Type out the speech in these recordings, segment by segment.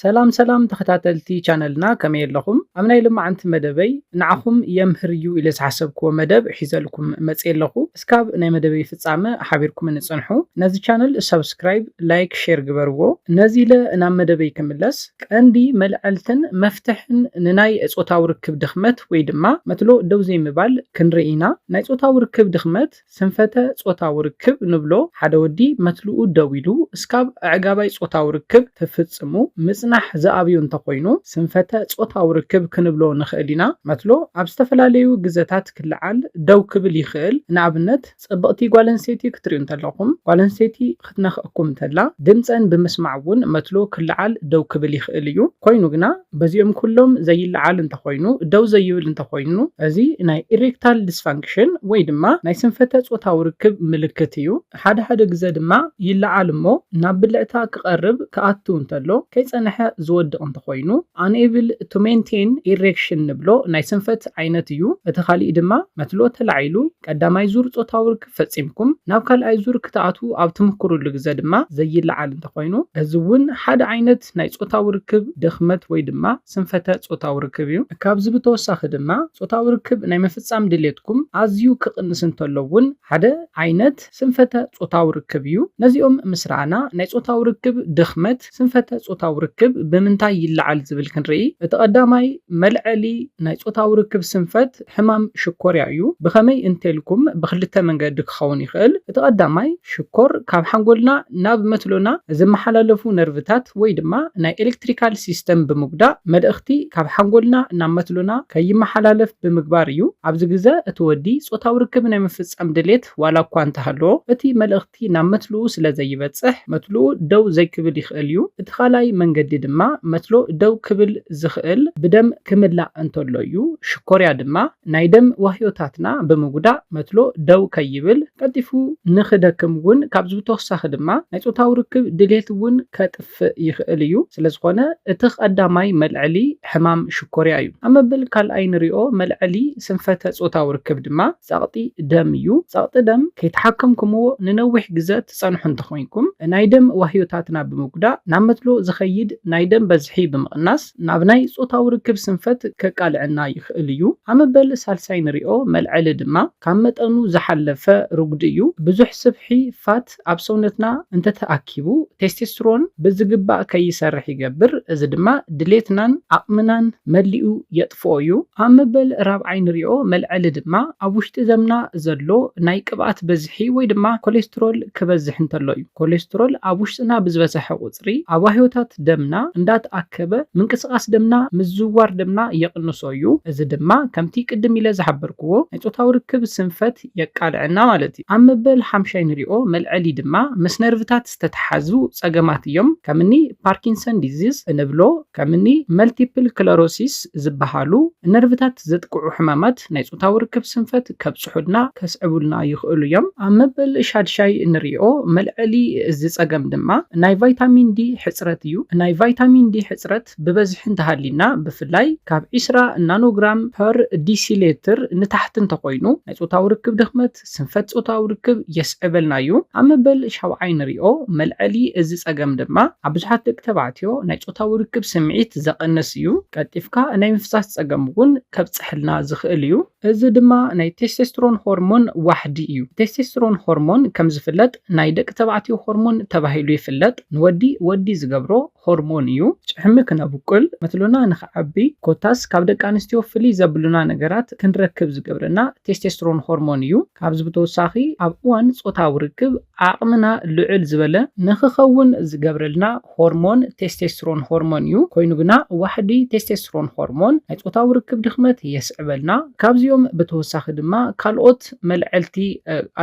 ሰላም ሰላም ተኸታተልቲ ቻነልና ከመይ ኣለኹም ኣብ ናይ ሎማዓንቲ መደበይ ንዓኹም የምህር እዩ ኢለ ዝሓሰብክዎ መደብ ሒዘልኩም መጽየ ኣለኹ እስካብ ናይ መደበይ ፍጻመ ሓቢርኩምኒ ጽንሑ ነዚ ቻነል ሳብስክራይብ ላይክ ሼር ግበርዎ ነዚ ኢለ ናብ መደበይ ክምለስ ቀንዲ መልዐልትን መፍትሕን ንናይ ጾታዊ ርክብ ድኽመት ወይ ድማ መትሎ ደው ዘይምባል ክንርኢ ኢና ናይ ጾታዊ ርክብ ድኽመት ስንፈተ ጾታዊ ርክብ ንብሎ ሓደ ወዲ መትልኡ ደው ኢሉ እስካብ ኣዕጋባይ ጾታዊ ርክብ ትፍጽሙ ምጽናሕ ዝኣብዮ እንተኾይኑ ስንፈተ ጾታዊ ርክብ ክንብሎ ንኽእል ኢና። መትሎ ኣብ ዝተፈላለዩ ግዘታት ክልዓል፣ ደው ክብል፣ ይኽእል። ንኣብነት ጽብቕቲ ጓለንስተይቲ ክትርእዩ እንተለኹም ጓለንስተይቲ ክትነኽኣኩም እንተላ ድምጸን ብምስማዕ እውን መትሎ ክለዓል ደው ክብል ይኽእል እዩ። ኮይኑ ግና በዚኦም ኩሎም ዘይለዓል እንተኾይኑ ደው ዘይብል እንተኾይኑ እዚ ናይ ኢሬክታል ዲስፋንክሽን ወይ ድማ ናይ ስንፈተ ጾታዊ ርክብ ምልክት እዩ። ሓደ ሓደ ግዘ ድማ ይለዓል እሞ ናብ ብልዕታ ክቐርብ ክኣቱ እንተሎ ከይጸነሐ ዝወድቕ እንተኾይኑ Unable to Maintain Erection ንብሎ ናይ ስንፈት ዓይነት እዩ። እቲ ካሊእ ድማ መትሎ ተላዒሉ ቀዳማይ ዙር ጾታዊ ፈጺምኩም ናብ ካልኣይ ዙር ክትኣትዉ ኣብ ትምኩሩሉ ግዘ ድማ ዘይለዓል እንተኾይኑ እዚ እውን ሓደ ዓይነት ናይ ፆታዊ ርክብ ድኽመት ወይ ድማ ስንፈተ ፆታዊ ርክብ እዩ። ካብዚ ብተወሳኺ ድማ ፆታዊ ርክብ ናይ ምፍፃም ድሌትኩም ኣዝዩ ክቕንስ እንተሎ እውን ሓደ ዓይነት ስንፈተ ፆታዊ ርክብ እዩ። ነዚኦም ምስ ረኣና ናይ ፆታዊ ርክብ ድኽመት፣ ስንፈተ ጾታዊ ርክብ ብምንታይ ይለዓል ዝብል ክንርኢ፣ እቲ ቀዳማይ መልዐሊ ናይ ጾታዊ ርክብ ስንፈት ሕማም ሽኮርያ እዩ። ብኸመይ እንተልኩም ብኽልተ መንገዲ ክኸውን ይኽእል፣ እቲ ቀዳማይ ሽኮር ካብ ሓንጎልና ናብ መትሎና ዝመሓላለፉ ነርቭታት ወይ ድማ ናይ ኤለክትሪካል ሲስተም ብምጉዳእ መልእኽቲ ካብ ሓንጎልና ናብ መትሎና ከይመሓላለፍ ብምግባር እዩ። ኣብዚ ግዘ እቲ ወዲ ጾታዊ ርክብ ናይ ምፍጻም ድሌት ዋላ እኳ እንተሃለዎ እቲ መልእኽቲ እቲ ናብ መትልኡ ስለ ዘይበጽሕ መትልኡ ደው ዘይክብል ይኽእል እዩ። እቲ ካልኣይ መንገዲ ድማ መትሎ ደው ክብል ዝኽእል ብደም ክምላእ እንተሎ እዩ። ሽኮርያ ድማ ናይ ደም ዋህዮታትና ብምጉዳእ መትሎ ደው ከይብል ቀልጢፉ ንኽደክም እውን ካብዚ ብተወሳኺ ድማ ናይ ጾታዊ ርክብ ድሌት እውን ከጥፍእ ይኽእል እዩ። ስለ ዝኾነ እቲ ቐዳማይ መልዐሊ ሕማም ሽኮርያ እዩ። ኣብ መበል ካልኣይ ንሪኦ መልዐሊ ስንፈተ ጾታዊ ርክብ ድማ ጸቕጢ ደም እዩ። ጸቕጢ ደም ከይተሓከምኩምዎ ንነዊሕ ግዘ ትጸንሑ እንተኾይንኩም፣ ናይ ደም ዋህዮታትና ብምጉዳእ ናብ መትሎ ዝኸይድ ናይ ደም በዝሒ ብምቕናስ ናብ ናይ ጾታዊ ርክብ ስንፈት ከቃልዐና ይኽእል እዩ። ኣመበል ሳልሳይ ንሪኦ መልዐሊ ድማ ካብ መጠኑ ዝሓለፈ ርጉዲ እዩ። ብዙሕ ስብሒ፣ Fat፣ ሆርሞናት ኣብ ሰውነትና እንተተኣኪቡ ቴስቴስትሮን ብዝግባእ ከይሰርሕ ይገብር፣ እዚ ድማ ድሌትናን ዓቕምናን መሊኡ የጥፍኦ እዩ። ኣብ መበል ራብዓይ ንሪኦ መልዐሊ ድማ ኣብ ውሽጢ ዘምና ዘሎ ናይ ቅብኣት በዝሒ ወይ ድማ ኮሌስትሮል ክበዝሕ እንተሎ እዩ። ኮሌስትሮል ኣብ ውሽጥና ብዝበዘሐ ቁፅሪ ኣዋህዮታት ደምና እንዳተኣከበ ምንቅስቓስ ደምና ምዝውዋር ደምና የቕንሶ እዩ፣ እዚ ድማ ከምቲ ቅድም ኢለ ዝሓበርክዎ ናይ ፆታዊ ርክብ ስንፈት፣ የቃልዐና ማለት እዩ። ኣብ መበል ሓምሻይ ንሪኦ መልዐሊ ድማ ምስ ነርቭታት ዝተተሓዙ ፀገማት እዮም። ከም እኒ ፓርኪንሰን ዲዚዝ እንብሎ፣ ከም እኒ መልቲፕል ክለሮሲስ ዝበሃሉ ንነርቭታት ዘጥቅዑ ሕማማት ናይ ፆታዊ ርክብ ስንፈት ከብፅሑልና፣ ከስዕቡልና፣ ይኽእሉ እዮም። ኣብ መበል ሻድሻይ እንሪኦ መልዐሊ እዚ ፀገም ድማ ናይ ቫይታሚን ዲ ሕፅረት እዩ። ናይ ቫይታሚን ዲ ሕፅረት። መድሃኒታት ብበዝሒ እንተሃልዩና፣ ብፍላይ ካብ ዕስራ ናኖግራም ፐር ዲሲሌትር ንታሕቲ እንተኾይኑ፣ ናይ ጾታዊ ርክብ ድኽመት፣ ስንፈት ጾታዊ ርክብ፣ የስዕበልና እዩ። ኣብ መበል ሻውዓይ ንሪኦ። መልዐሊ እዚ ጸገም ድማ ኣብ ብዙሓት ደቂ ተባዕትዮ ናይ ጾታዊ ርክብ ስምዒት ዘቐንስ እዩ። ቀልጢፍካ ናይ ምፍሳስ ጸገም እውን ከብጸሐልና ዝኽእል እዩ። እዚ ድማ ናይ ቴስቴስትሮን ሆርሞን ዋሕዲ እዩ። ቴስቴስትሮን ሆርሞን ከም ዝፍለጥ ናይ ደቂ ተባዕትዮ ሆርሞን ተባሂሉ ይፍለጥ። ንወዲ ወዲ ዝገብሮ ሆርሞን እዩ። ጭሕሚ ክነብቁል፣ መትሎና ንክዓቢ ኮታስ ካብ ደቂ ኣንስትዮ ፍልይ ዘብሉና ነገራት ክንረክብ ዝገብረና ቴስቴስትሮን ሆርሞን እዩ። ካብዚ ብተወሳኺ ኣብ እዋን ጾታዊ ርክብ ዓቕምና ልዕል ዝበለ ንክኸውን ዝገብረልና ሆርሞን ቴስቴስትሮን ሆርሞን እዩ። ኮይኑ ግና ዋሕዲ ቴስቴስትሮን ሆርሞን ናይ ጾታዊ ርክብ ድኽመት የስዕበልና። ካብዚኦም ብተወሳኺ ድማ ካልኦት። መልዐልቲ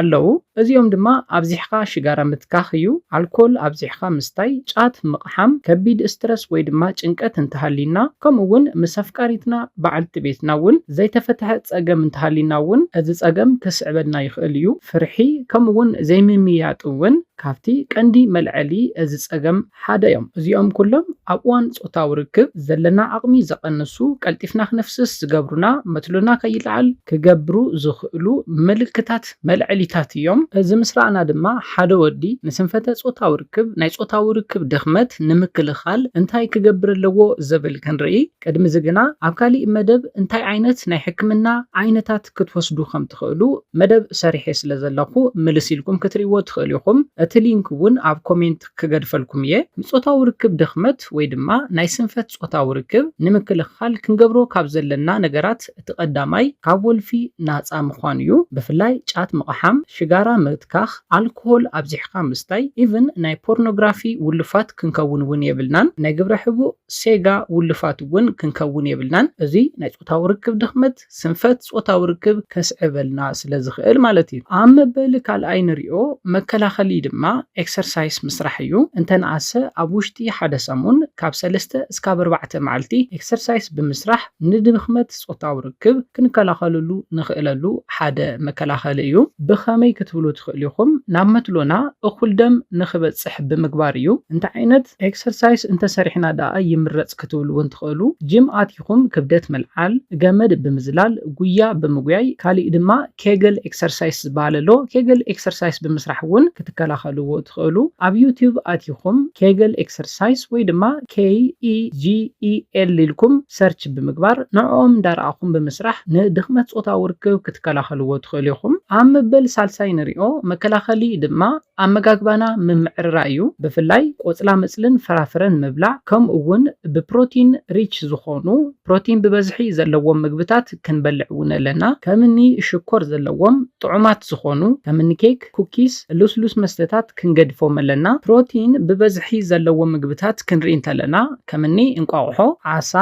ኣለዉ። እዚኦም ድማ ኣብዚሕኻ ሽጋራ ምትካኽ እዩ፣ ኣልኮል ኣብዚሕኻ ምስታይ፣ ጫት ምቕሓም፣ ከቢድ እስትረስ ወይ ድማ ጭንቀት እንተሃልዩና ከምኡ እውን ምስ ኣፍቃሪትና በዓልቲ ቤትና እውን ዘይተፈትሐ ፀገም እንተሃልዩና እውን እዚ ፀገም ክስዕበልና ይኽእል እዩ። ፍርሒ ከምኡ እውን ዘይምምይያጥ እውን ካብቲ ቀንዲ መልዐሊ እዚ ፀገም ሓደ እዮም። እዚኦም ኩሎም ኣብ እዋን ጾታዊ ርክብ ዘለና ዓቕሚ ዘቐንሱ፣ ቀልጢፍና ክነፍስስ ዝገብሩና፣ መትሎና ከይለዓል ክገብሩ ዝኽእሉ ምልክታት መልዐሊታት እዮም። እዚ ምስ ረኣና ድማ ሓደ ወዲ ንስንፈተ ጾታዊ ርክብ፣ ናይ ጾታዊ ርክብ ድኽመት፣ ንምክልኻል እንታይ ክገብር ኣለዎ ዝብል ክንርኢ። ቅድሚ እዚ ግና ኣብ ካሊእ መደብ እንታይ ዓይነት ናይ ሕክምና ዓይነታት ክትወስዱ ከም ትኽእሉ መደብ ሰሪሐ ስለ ዘለኹ ምልስ ኢልኩም ክትርእይዎ ትኽእሉ ኢኹም። እቲ ሊንክ እውን ኣብ ኮሜንት። ክገድፈልኩም እየ። ንጾታዊ ርክብ ድኽመት ወይ ድማ ናይ ስንፈት ጾታዊ ርክብ ንምክልኻል ክንገብሮ ካብ ዘለና ነገራት እቲ ቀዳማይ ካብ ወልፊ ናጻ ምዃን እዩ። ብፍላይ ጫት ምቕሓም፣ ሽጋራ ምትካኽ፣ ኣልኮሆል ኣብዚሕኻ ምስታይ ኢቭን ናይ ፖርኖግራፊ ውሉፋት ክንከውን እውን የብልናን። ናይ ግብረ ሕቡእ፣ ሴጋ፣ ውሉፋት እውን ክንከውን የብልናን። እዙይ ናይ ጾታዊ ርክብ ድኽመት ስንፈት ጾታዊ ርክብ ከስዕበልና ስለ ዝኽእል ማለት እዩ። ኣብ መበሊ ካልኣይ ንሪኦ መከላኸሊ ድማ ኤክሰርሳይስ ምስራሕ እዩ። እንተንኣሰ ኣብ ውሽጢ ሓደ ሰሙን ካብ ሰለስተ እስካብ ኣርባዕተ መዓልቲ ኤክሰርሳይስ ብምስራሕ ንድኽመት ጾታዊ ርክብ ክንከላኸለሉ ንኽእለሉ ሓደ መከላኸሊ እዩ። ብኸመይ ክትብሉ ትኽእሉ ኢኹም፣ ናብ መትሎና እኹል ደም ንኽበጽሕ ብምግባር እዩ። እንታይ ዓይነት ኤክሰርሳይስ እንተሰሪሕና ደኣ ይምረጽ ክትብሉ እውን ትኽእሉ፣ ጂም ኣቲኹም፣ ይኹን ክብደት ምልዓል፣ ገመድ ብምዝላል፣ ጉያ ብምጉያይ፣ ካሊእ ድማ ኬግል ኤክሰርሳይስ ዝበሃል ኣሎ፣ ኬግል ኤክሰርሳይስ ብምስራሕ እውን ክትከላኸልዎ ትኽእሉ። ኣብ ዩቱብ ኣቲኹም ኬግል ኤክሰርሳይስ ወይ ድማ KEGEL ኢልኩም ሰርች ብምግባር ንዕኦም እንዳረኣኹም ብምስራሕ ንድኽመት ፆታዊ ርክብ ክትከላኸልዎ ትኽእሉ ኢኹም። ኣብ መበል ሳልሳይ ንሪኦ መከላኸሊ ድማ ኣመጋግባና ምምዕርራይ እዩ። ብፍላይ ቆፅላመፅልን ፍራፍረን ምብላዕ ከምኡ እውን ብፕሮቲን ሪች ዝኾኑ፣ ፕሮቲን ብበዝሒ ዘለዎም ምግብታት ክንበልዕ እውን ኣለና። ከም እኒ ሽኮር ዘለዎም ጥዑማት ዝኾኑ ከም እኒ ኬክ፣ ኩኪስ፣ ልስሉስ መስተታት ክንገድፎም ኣለና። ፕሮቲን ብበዝሒ ዘለዎም ምግብታት ክንርኢ እንተለና ከም እኒ እንቋቑሖ፣ ዓሳ፣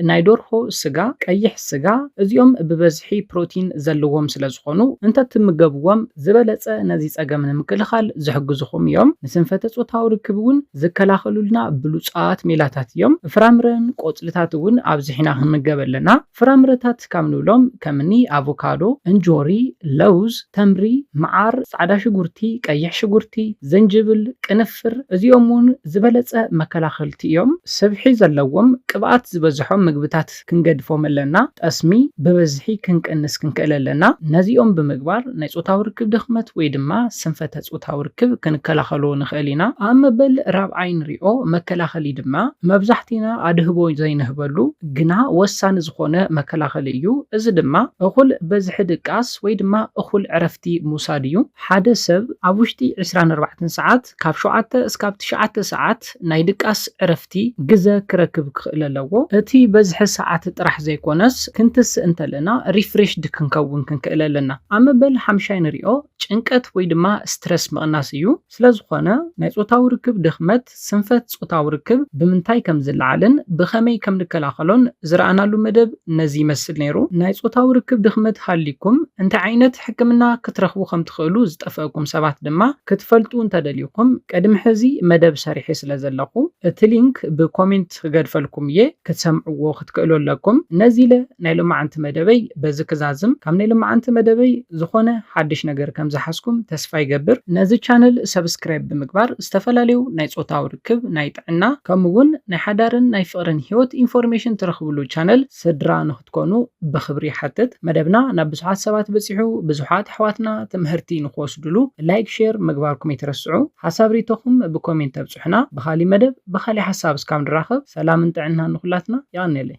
ናይ ደርሆ ስጋ፣ ቀይሕ ስጋ፣ እዚኦም ብበዝሒ ፕሮቲን ዘለዎም ስለ ዝኾኑ እንተትምገብዎም ዝበለጸ ነዚ ጸገም ንምክልኻል ዝሕግዙኹም እዮም። ንስንፈተ-ጾታዊ ርክብ እውን ዝከላኸሉልና ብሉጻት ሜላታት እዮም። ፍራምረን ቆጽልታት እውን ኣብዚሕና ክንምገብ ኣለና። ፍራምረታት ካብ ንብሎም ከምኒ ኣቮካዶ፣ እንጆሪ፣ ለውዝ፣ ተምሪ፣ መዓር፣ ጻዕዳ ሽጉርቲ፣ ቀይሕ ሽጉርቲ፣ ዝንጅብል፣ ቅንፍር፣ ጨናፍር እዚኦም እውን ዝበለጸ መከላኸልቲ እዮም። ስብሒ ዘለዎም ቅብኣት ዝበዝሖም ምግብታት ክንገድፎም ኣለና። ጠስሚ ብበዝሒ ክንቅንስ ክንክእል ኣለና። ነዚኦም ብምግባር ናይ ጾታዊ ርክብ ድኽመት ወይ ድማ ስንፈተ ጾታዊ ርክብ ክንከላኸሎ ንኽእል ኢና። ኣብ መበል ራብዓይ ንሪኦ መከላኸሊ ድማ መብዛሕቲና ኣድህቦ ዘይንህበሉ ግና ወሳኒ ዝኾነ መከላኸሊ እዩ። እዚ ድማ እኹል በዝሒ ድቃስ ወይ ድማ እኹል ዕረፍቲ ምውሳድ እዩ። ሓደ ሰብ ኣብ ውሽጢ ዕስራን ኣርባዕተን ሰዓት፣ ካብ ሸውዓተ እስካብ ትሽዓተ ሰዓት፣ ናይ ድቃስ፣ ዕረፍቲ፣ ግዘ ክረክብ ክኽእል ኣለዎ። እቲ በዝሒ ሰዓት ጥራሕ ዘይኮነስ ክንትስእ እንተለና ሪፍሬሽድ ክንከውን ክንክእል ኣለና። ኣብ መበል ሓምሻይ ንሪኦ ጭንቀት ወይ ድማ ስትረስ ምቕናስ እዩ። ስለዝኾነ ናይ ፆታዊ ርክብ ድኽመት፣ ስንፈት ጾታዊ ርክብ ብምንታይ ከም ዝለዓልን ብኸመይ ከም ንከላኸሎን ዝረኣናሉ መደብ ነዚ ይመስል ነይሩ። ናይ ጾታዊ ርክብ ድኽመት ሃልይኩም እንታይ ዓይነት ሕክምና ክትረኽቡ ከም ትኽእሉ ዝጠፈእኩም ሰባት ድማ ክትፈልጡ እንተ ደሊኹም ቅድሚ ሕዚ መደብ ሰሪሐ ስለ ዘለኹ እቲ ሊንክ ብኮሜንት ክገድፈልኩም እየ። ክትሰምዕዎ ክትክእሉ ኣለኩም። ነዚለ ናይ ሎማዓንቲ መደበይ በዚ ክዛዝም። ካብ ናይ ሎማዓንቲ መደበይ ዝኾነ ሓድሽ ነገር ከም ዝሓዝኩም ተስፋ ይገብር። ነዚ ቻነል ሰብስክራይብ ብምግባር ዝተፈላለዩ ናይ ጾታዊ ርክብ፣ ናይ ጥዕና ከምኡ ውን ናይ ሓዳርን ናይ ፍቕርን ሂወት ኢንፎርሜሽን ትረኽብሉ ቻነል ስድራ ንክትኮኑ ብኽብሪ ይሓትት። መደብና ናብ ብዙሓት ሰባት በጺሑ ብዙሓት ኣሕዋትና ትምሀርቲ ንክወስድሉ ላይክ ሼር ምግባርኩም ኣይትረስዑ። ሓሳብ ሪኢቶኹም ብኮሜንት ኣብጽሑልና። ንሕና ብካሊእ መደብ ብካሊእ ሓሳብ እስካብ ንራከብ ሰላምን ጥዕናን ንኩላትና የቀንየለይ።